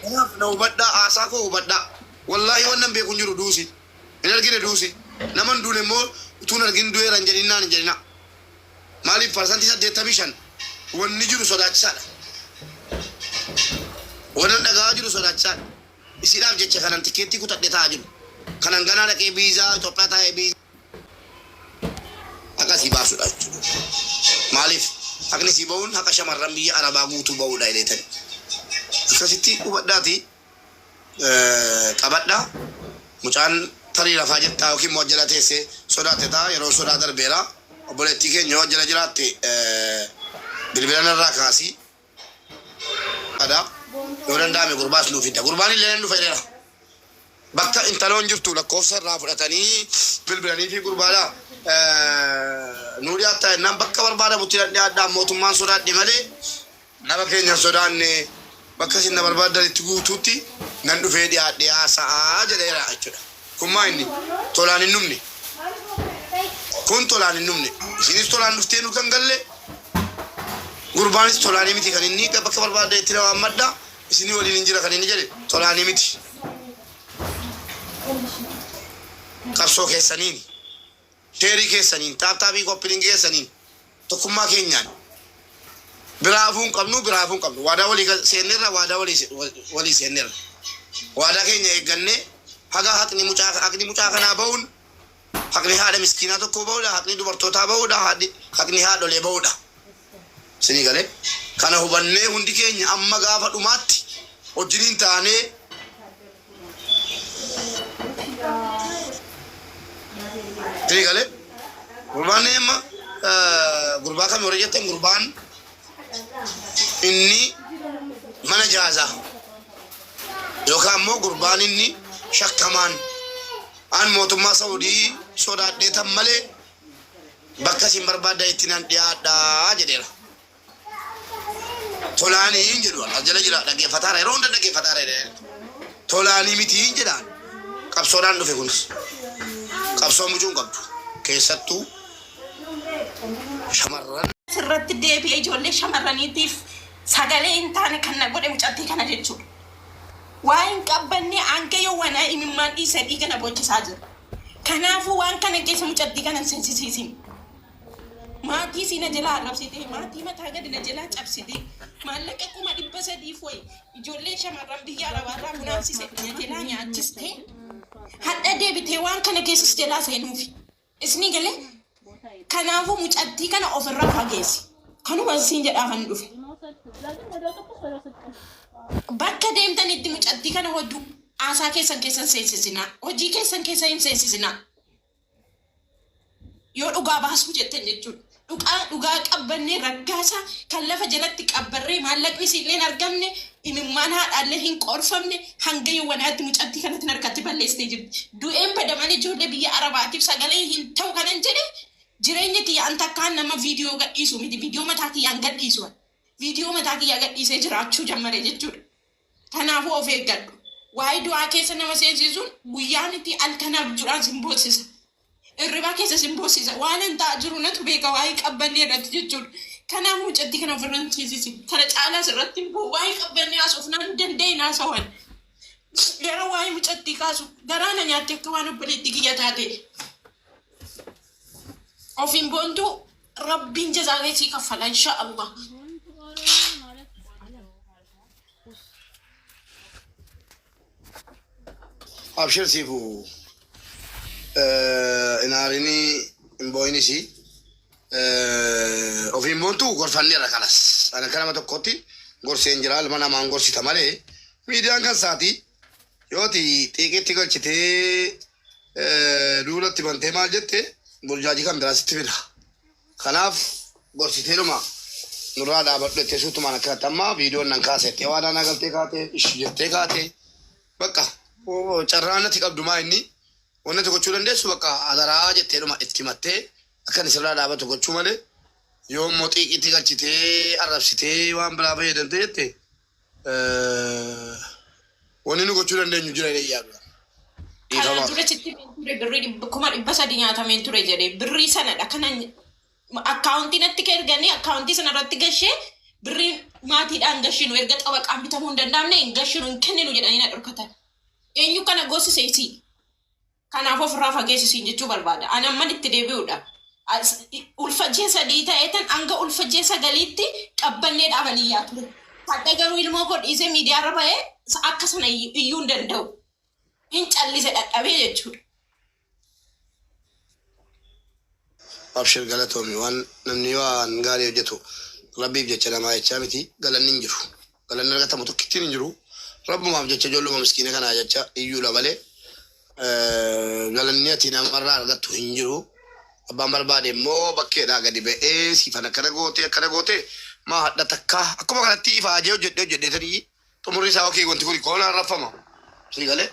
Kanaaf na hubadhaa, haasaa koo hubadhaa. Wallaahi wannan beeku hin jiru duusi. Hin argine duusi. Nama hin duune immoo utuu hin argin du'eera hin jedhin naan hin jedhinaa. Maaliif parsantii 85 wanni jiru sodaachisaadha. Wanan dhaga'aa jiru sodaachisaadha. Isiidhaaf jecha kanan tikkeettii kutadhe taa'aa jiru. Kanan ganaa dhaqee biizaa Itoophiyaa taa'ee biizaa. Haqa sii baasudha jechuudha. Maaliif? Haqni sii ba'uun haqa shamarran biyya Arabaa guutuu ba'uudha jedheetani. Akkasitti hubadhaati qabadha. Mucaan tarii rafaa jirtaa yookiin immoo jala teesse sodaatte ta'a. Yeroon sodaa darbeera. Obboleettii keenya yoo jala jiraatte bilbila narraa kaasi. Ada yoo danda'ame gurbaas nuu fidda. Gurbaan illee nan dhufa jedheera. Bakka intaloon jirtu lakkoofsa irraa fudhatanii bilbilanii fi gurbaadha. Eh, Nuu dhiyaattaa jennaan bakka barbaadamutti nan dhiyaadhaa mootummaan sodaadhe malee nama keenya hin sodaanne bakka isin na barbaaddanitti guutuutti nan dhufee dhiyaadhee haasa'aa jedheera jechuudha. Kun maa inni tolaan hin dhumne? Kun tolaan hin dhumne. Ishiinis tolaan dhuftee nu kan galle, gurbaanis tolaanii miti kan inni bakka barbaaddeetti na waammadha, isinii waliin hin jira kan inni jedhe tolaanii miti. Qabsoo keessaniini. Sheerii keessaniin, taaptaabii kooppilinki keessaniin tokkummaa keenyaan biraa hafuu hin qabnu, biraa hafuu hin qabnu. Waadaa walii gal- seenneerra, waadaa walii se- wal- walii seenneerra. Waadaa keenya eeggannee haga haqni mucaa haqni mucaa kanaa ba'uun haqni haadha miskiinaa tokkoo ba'uudha, haqni dubartootaa ba'uudha, haadhi- haqni haadholee ba'uudha. Isinii galee? Kana hubannee hundi keenya amma gaafa dhumaatti wajjiniin taanee Isinii galee? Gurbaan amma gurbaa kami warri jettan gurbaan inni mana jaazaa yookaan immoo gurbaan inni shakkamaan aan mootummaa Saudii sodaadheetan malee bakka isin barbaaddan itti nan dhiyaadhaa jedheera. Tolaanii hin jedhu as jala jira dhaggeeffataara yeroo hunda dhaggeeffataara jedhee tolaanii miti hin jedhaan qabsoodhaan dhufe kunis qabsoo mucuun qabdu keessattuu shamarran irratti deebi'ee ijoollee shamarraniitiif sagalee hin taane kan na godhe mucattii kana jechuudha. Waa hin qabbannee hanga yoo wanaa imimmaan dhiisee dhiiga na boochisaa jira. Kanaafuu waan kana keessa mucattii kana hin seensisiisin. Maatii isii na jalaa arrabsitee, maatii mataa gadi na jalaa cabsitee, maallaqa kuma dhibba sadiif wayi ijoollee shamarran biyya arabaarraa funaansise na jalaa nyaachistee, hadha deebitee waan kana keessa si jalaa seenuufi. Isni galee Kanaafuu mucattii kana ofirraa fageessi. Kanuman siin jedhaa kan dhufe. Bakka deemtanitti mucattii kana hoddu haasaa keessan keessan seensisinaa. Hojii keessan keessa hin seensisinaa. Yoo dhugaa baasuu jettan jechuudha. Dhugaa dhugaa qabbannee raggaasaa kan lafa jalatti qabbarree maallaqni siinleen argamne Imimmaan haadhaallee hin qoorfamne hanga yowwanaatti mucattii kanatti narkatti balleessitee jirti. Du'een bada malee ijoollee biyya Arabaatiif sagalee hin ta'u kanan jedhe jireenya kiyya an takkaan nama viidiyoo gadhiisu miti. Viidiyoo mataa kiyyaan gadhiisu an. Viidiyoo mataa kiyyaa gadhiisee jiraachuu jammare jechuudha. Kanaafuu of eeggadhu. Waa'ee du'aa keessa nama seensiisuun guyyaa miti halkan abjuudhaan sin boossisa. Hirribaa keessa sin boosiisa. Waanan ta'aa jiru natu beeka waa'ee qabbannee irratti jechuudha. Kanaaf mucattii kana ofirra hin ciisisi. Kana caalaas irratti hin bu'u. Waa'ee qabbannee haasofnaan hin danda'in haasawan. Yeroo waa'ee mucattii kaasu garaa na nyaatti akka waan obboleettii kiyya taate. Ofiin boontuu rabbiin jazaa kee sii kaffala inshaa Allah. Abshir siifu hin aarini hin booyinisi ofiin boontu gorfanneerra kalas ani akka nama tokkotti gorseen jira ilma namaan gorsita malee miidiyaan kan isaati yooti xiiqitti galchitee duulatti bantee maal jette burjaajii kan biraa sitti fida. Kanaaf gorsitee dhuma nurraa dhaabadhu jettee suutumaan akkanatti amma viidiyoon nan kaasa jettee waadaa naa galtee kaatee ishi jettee kaatee bakka oo, carraa natti qabdu maa inni wanna tokko gochuu dandeessu bakka adaraa jettee dhuma itti himattee akka inni sirraa dhaabatu gochuu malee yoo immoo xiiqiitti galchitee arrabsitee waan biraa fayyadamtee jette Wanni nu gochuu dandeenyu jira jedhee yaadu. Kanaan Dhiifama. dura sitti himeen ture birrii dhibba- kuma dhibba sadi nyaatameen ture jedhee birrii sanadha kana akkaawuntii natti ka erganii akkaawuntii sana irratti gashee birrii maatiidhaan gashinu erga xabaqaan bitamuu hin danda'amne hin gashinu hin kenninu jedhanii na dhorkatan. Eenyu kana goosise isii? Kanaaf ofirraa fageessi siin jechuu barbaada. Ani amman itti deebi'uudha. As- Ulfa ji'a sadii ta'eetan hanga ulfa ji'a sagaliitti qabbanneedhaaf ani iyyaa ture. Hadha garuu ilmoo koo dhiisee miidiyaarra ba'ee sa- akka sana iyyu- iyyuu hin danda'u. Hin callise dhadhabee jechuudha. Abshir galatoomi waan namni waan gaarii hojjetu rabbiif jecha namaa jechaa miti galanni hin jiru. galanni argatamu tokkittiin hin jiru. Rabbumaaf jecha ijoolluma miskiina kanaa jecha iyyuudha malee galanni ati namarraa argattu hin jiru. Abbaan barbaade immoo bakkeedhaa gadi ba'ee siifan akkana gootee akkana gootee maa hadha takkaa akkuma kanatti ifaajee hojjedhee hojjedhee tarii xumurri isaa yookiin wanti kun koonaan raffama. Sii galee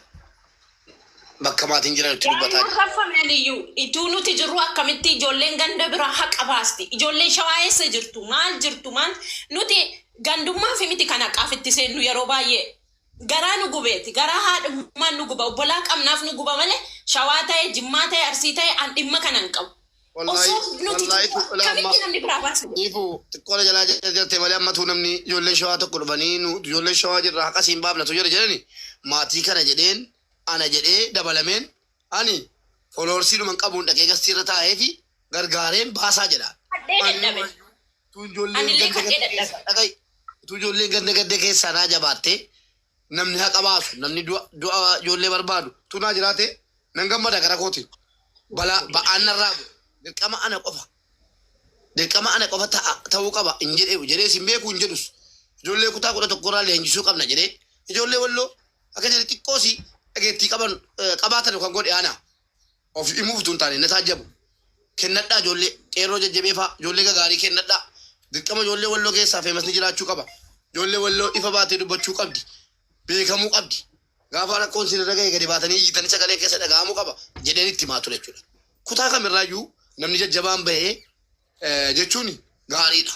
bakka maatiin jiran itti dubbataa Hin jira. raffamne liyyuu. Ituu nuti jirru akkamitti ijoolleen ganda biraa haqa baasti? Ijoolleen shawaa eessa jirtu? Maal jirtu? Maal nuti gandummaafi miti kan haqaaf itti seennu yeroo baay'ee garaa nu gubeeti. Garaa haadhummaan nu guba. Obbolaa qabnaaf nu guba malee shawaa ta'e, jimmaa ta'e, arsii ta'e an dhimma kana hin qabu. Osoo blootii Wallaahi tuqaa. tuqulaa amma. Kamitti namni biraa baasuu? Ifu xiqqoola jalaa jette malee ammatu namni ijoolleen shawaa tokko dhufanii nu ijoolleen shawaa jirra haqa siin baafnatu jira jedhani maatii kana jedheen ana jedhee dabalameen ani foloorsii dhuman qabuun dhaqee gastii irra taa'ee fi gargaareen baasaa jedha. Hadhee dadhabe. Utuu ijoolleen Anillee ganda hadhee gadda dadhabe. keessaa dhaqai. Utuu ijoolleen ganda gadda keessaa naa jabaattee Namni haqa baasu, namni du'a du'a ijoollee barbaadu tu naa jiraate nan gammada gara kooti. Balaa ba'aan narraa bu'e. Dirqama ana qofa. Dirqama ana qofa ta'a ta'uu qaba hin jedhe jedhees hin beeku hin jedhus. Ijoollee kutaa kudha tokko irraa leenjisuu qabna jedhee ijoollee walloo akka jedhe xiqqoosi dhageettii qaban eh, qabaatan kan godhe ana. Of himuuf utuu hin taane na taajjabu. Kennadhaa ijoollee qeerroo jajjabeefaa, ijoollee gagaarii kennadhaa. Dirqama ijoollee Walloo keessaa feemasni jiraachuu qaba. Ijoollee Walloo ifa baatee dubbachuu qabdi. Beekamuu qabdi. Gaafa rakkoon isin irra gahe gadi baatanii iyyitanii sagaleen keessa dhaga'amuu qaba jedheen itti himaa ture jechuudha. Kutaa kam irraa iyyuu namni jajjabaan bahe jechuun gaariidha.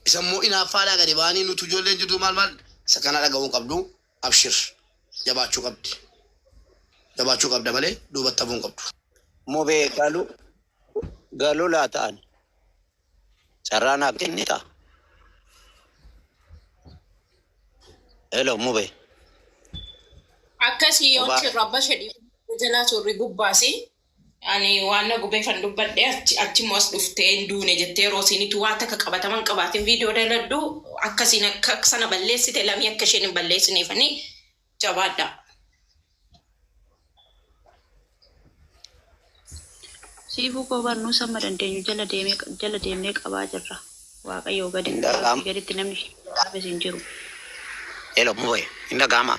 Isa immoo inaaffaadhaa gadi ba'anii nutu ijoolleen jirtu maal maal isa kana dhaga'uu hin qabdu. Abshir jabaachuu qabdi jabaachuu qabda malee duubatti hafuu hin qabdu. Mube galu galu laata ani carraa naaf kennita hello mube Akkasii yoon mubaa sirra bashe dhiifama jalaa turri gubbaasi. Ani waan na gubeefan dubbadhe achi achimmoo as dhuftee hin duune jettee yeroo isiinitu waa takka qabataman qabaatin viidiyoo daladhu akkasiin akka sana balleessite lamii akka isheen hin balleessineefani jabaadha. Siifuu koo bar nuus amma dandeenyu jala deemee jala deemnee qabaa jirra. Waaqayyoo gaditti Hin dhaga'amu. rabbii gaditti namni ishee dhaabes hin jiru. Hello, Muboy. Hin dhaga'amaa?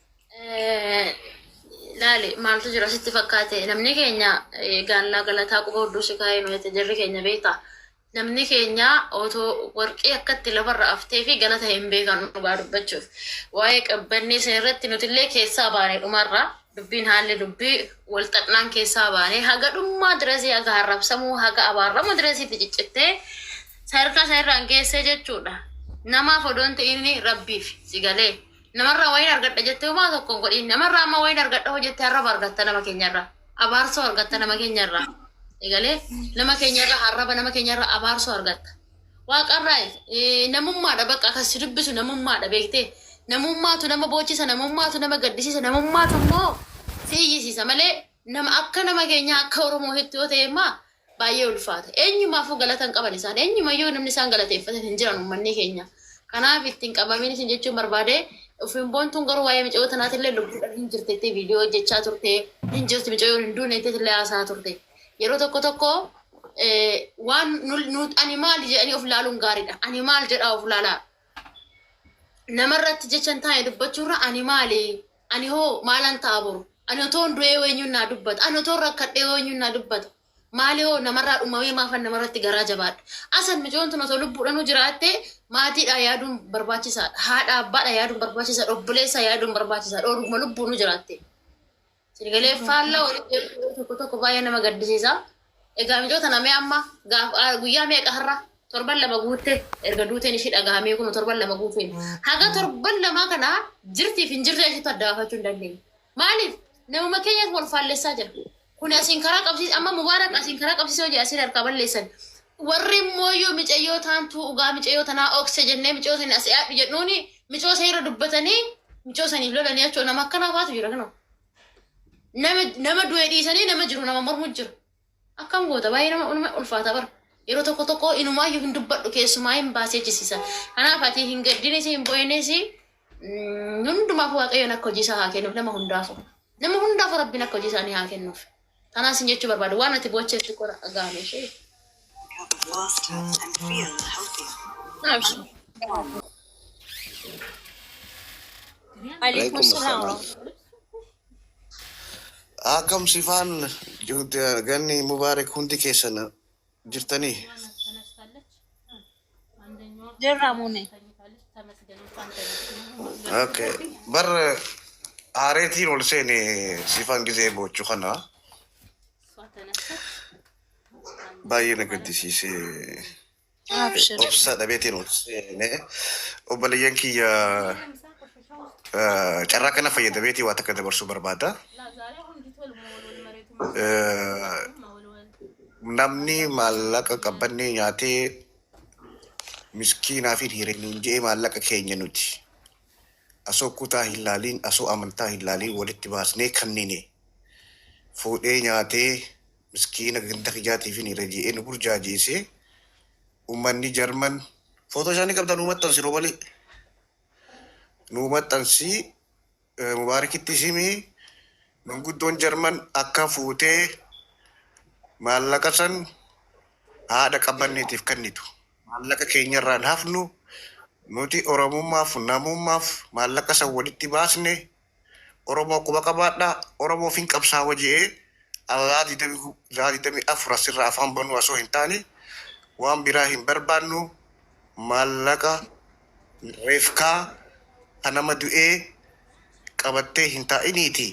Laali maaltu jira sitti fakkaate namni keenya gaallaa galataa quba hudduu si kaa'ee nuyi jarri keenya beekta. Namni keenya otoo warqii akkatti lafarra aftee fi galata hin beekan dhugaa dubbachuuf. Waa'ee qabbannee isin irratti nutillee keessaa baane dhumarraa dubbiin haalli dubbii wal xaxnaan keessaa baane haga dhummaa dirasii haga harrabsamuu haga abaarramu dirasiitti ciccittee sadarkaa sana irraan geessee jechuudha. Namaaf odoon ta'in rabbiif si galee. Namarraa wayiin argadha jettee homaa tokko hin godhin. Namarraa amma wayiin argadha hoo jettee arraba argatta nama keenyarraa. Abaarsoo argatta nama keenyarraa. Egalee nama keenyarraa arraba nama keenyarraa abaarsoo argatta. Waaqarraa eh, namummaadha bakka kan si dubbisu namummaadha beektee. Namummaatu nama boochisa namummaatu nama gaddisiisa namummaatu immoo si iyyisiisa malee nama akka nama keenyaa akka Oromootitti yoo ta'e immoo baay'ee ulfaata. Eenyumaafuu galata hin qaban isaan. Eenyumayyuu namni isaan galateeffatan hin jiran ummannii keenya. Kanaaf ittiin qabamin isin jechuun barbaade ofiin boontuun garuu waa'ee micayoo tanaatillee lubbuudhaan hin jirte jettee viidiyoo hojjechaa turte hin jirti micayoon hin duune jetteetillee haasaa turte. Yeroo tokko tokko eh, waan nu- nu- ani maal jedhanii of ilaaluun gaariidha. Ani maal jedhaa of ilaalaa. Namarratti jechan taa'e dubbachuurra ani maali Ani hoo maalan ta'a boru? Ani otoon du'ee hoo eenyuun naa dubbata? Ani otoon rakkadhee hoo eenyuun naa dubbata? Maali hoo namarraa dhumamee maafan namarratti garaa jabaadha? Asan micoon tun otoo lubbuudhanuu jiraattee maatiidhaa yaaduun barbaachisaadha. Haadha abbaadha yaaduun barbaachisaadha. Obboleessaa yaaduun barbaachisaadha. Oduma lubbuunuu jiraattee. Sinigalee faallaa walitti jedhu tokko tokko baay'ee nama gaddisiisa. Egaa mijoo tana mee amma gaaf ah, guyyaa meeqa har'a torban lama guutte erga duuteen ishii dhagahamee kun torban lama guuteen haga torban lamaa kana jirtiif hin jirre ishiitu adda baafachuu hin dandeenye. Maaliif namuma keenyas wal faallessaa jira. Kun asiin karaa qabsiis amma mubaarak asiin karaa qabsiisee hojii asiin harkaa balleessan. Warri immoo yoo micayyoo taantuu dhugaa micayyoo tanaa okse jennee micayyoo sanii asii aadhu jedhuuni micayyoo sanii irra dubbatanii micayyoo saniif lolanii achoo nama akkanaa faatu jira kanoo. nama nama du'e dhiisanii nama jiru nama mormu jiru. Akkam goota baay'ee nama ulma ulfaata bara. Yeroo tokko tokko inumaayyuu hin dubbadhu keessumaa hin baasee jisiisa. Kanaaf ati hin gaddinis hin bo'eenis hundumaaf waaqayyoon akka hojii isaa haa kennuuf nama hundaafu. Nama hundaafu rabbiin akka hojii isaanii haa kennuuf. Tanaa sin jechuu barbaada. Waan ati boochee xiqqoo na dhaga'ame ishee. Alaikum salam. Akkam sifaan ganni mubaarak hundi keessan jirtanii Jirra muune. okay. bar haareetiin ol seene sifan gisee boochu kana baay'ee na gaddisiise Abshir. obsa dhabeetiin ol seene obboleeyyan kiyya Eh, Carraa kana fayyadameetii waa takka dabarsuu barbaada. Eh, Namni maallaqa qabbannee nyaatee miskiinaa fi dhiira nuun je'ee maallaqa keenya nuti asoo kutaa hin laaliin asoo amantaa hin laaliin walitti baasnee kannine fuudhee nyaatee miskiina ganda kijaatii fi dhiira je'ee nu burjaajeessee ummanni jarman footoo isaanii qabdan uumattan siroo malee nuu maxxansi mubaarikittis himi manguddoon jarman akka fuutee maallaqa san haadha qabbanneetiif kennitu maallaqa keenyarraan hafnu nuti oromummaaf namummaaf maallaqa san walitti baasne Oromoo quba qabaadhaa, Oromoof hin qabsaawa je'ee Alaa 24 asirraa afaan banuu asoo hin taane waan biraa hin barbaannu, maallaqa refkaa ka nama du'ee qabattee hin taa'iniiti,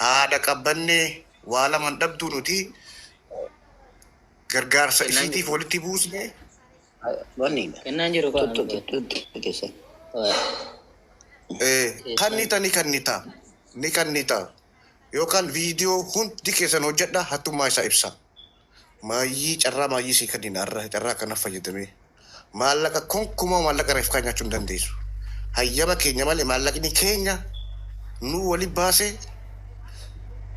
haadha qabbanne waa laman dhabduu nuti gargaarsa isiitiif walitti buusne. Wanni kennaan jiru kaa tuttu tuttu keessa. Kanni tani kannita ni kannita yookaan viidiyoo hundi keessan hojjedha hattummaa isaa ibsa. Maayyii carraa maayyii sii kannina irra carraa kana fayyadamee maallaqa konkumaa maallaqa reef kaa nyaachuu hin dandeessu. Hayyama keenya malee maallaqni keenya nu wali baase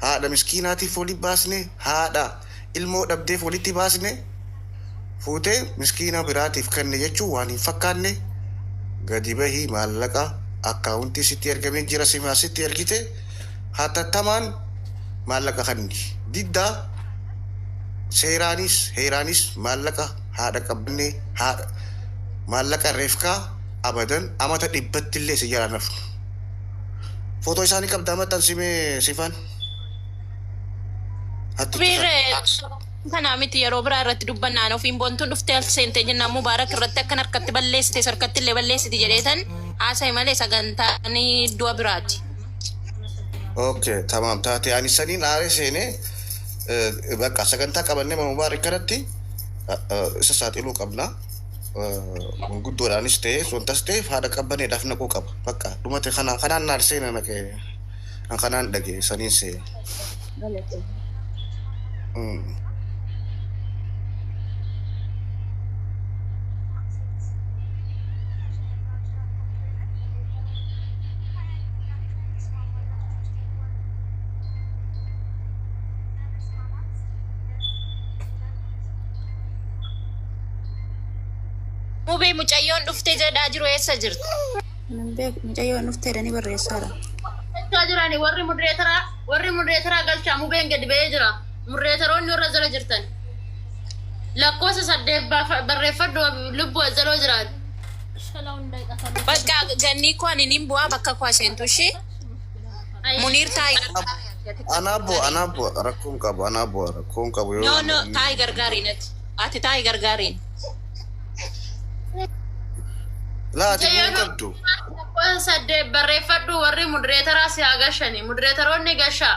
haadha miskiinaatiif wali baasne haadha ilmoo dhabdeef walitti baasne fuutee miskiina biraatiif kenne jechuun waan hin fakkaanne gadi bahii maallaqa akkaawuntii sitti ergamee jira simaa sitti ergite hatattamaan maallaqa kanni diddaa seeraanis heeraanis maallaqa haadha qabannee haadha maallaqa reefkaa abadan amata dhibbatti illee si jalaa nafnu. Footoo isaanii qabdaa maxxansii mee sifaan. Hatti itti kan- Biirree kanaa miti yeroo biraa irratti dubbannaan ofiin boontuun dhuftee as seentee jennaan mubaarak irratti akkan harkatti balleessite sarkatti illee balleessiti jedheetan haasa'e malee sagantaan du'a biraati. Okay, tamam taate ani saniin aaree seenee eh, bakka sagantaa qabannee mubaarak kanatti eh, eh, isa saaxiluu qabna. manguddoodhaanis ta'ee sontas ta'e haadha qabbaneedhaaf naquu qaba. Bakka dhumate kana kanaan naal seena naqee an kanaan dhage saniin seena. Galate. Mubee mucayyoon dhufte jedhaa jiru eessa jirti? Hin beeku mucayyoon dhufte jedhanii barreessaadha. Galchaa jirani warri mudreetaraa warri mudreetaraa galchaa mubeen gadi ba'ee jira. Mudreetaroonni warra jala jirtan. Lakkoofsa saddeet baafa- barreeffadhu lubbu azzaloo jiraatu. Bakka gannii koo ani nin bu'aa bakka koo seentu ishee muniir taayi Anaa bu'a, anaa bu'a, rakkoon qabu, anaa bu'a, rakkoon qabu yoo. No no taayi gargaari natti. Ati taa'i gargaariin. Laa ati bu'uu hin qabdu. Lakkoofsa saddeet barreeffadhu warri mudireetaraa si haa gashani. Mudireetaroonni gashaa.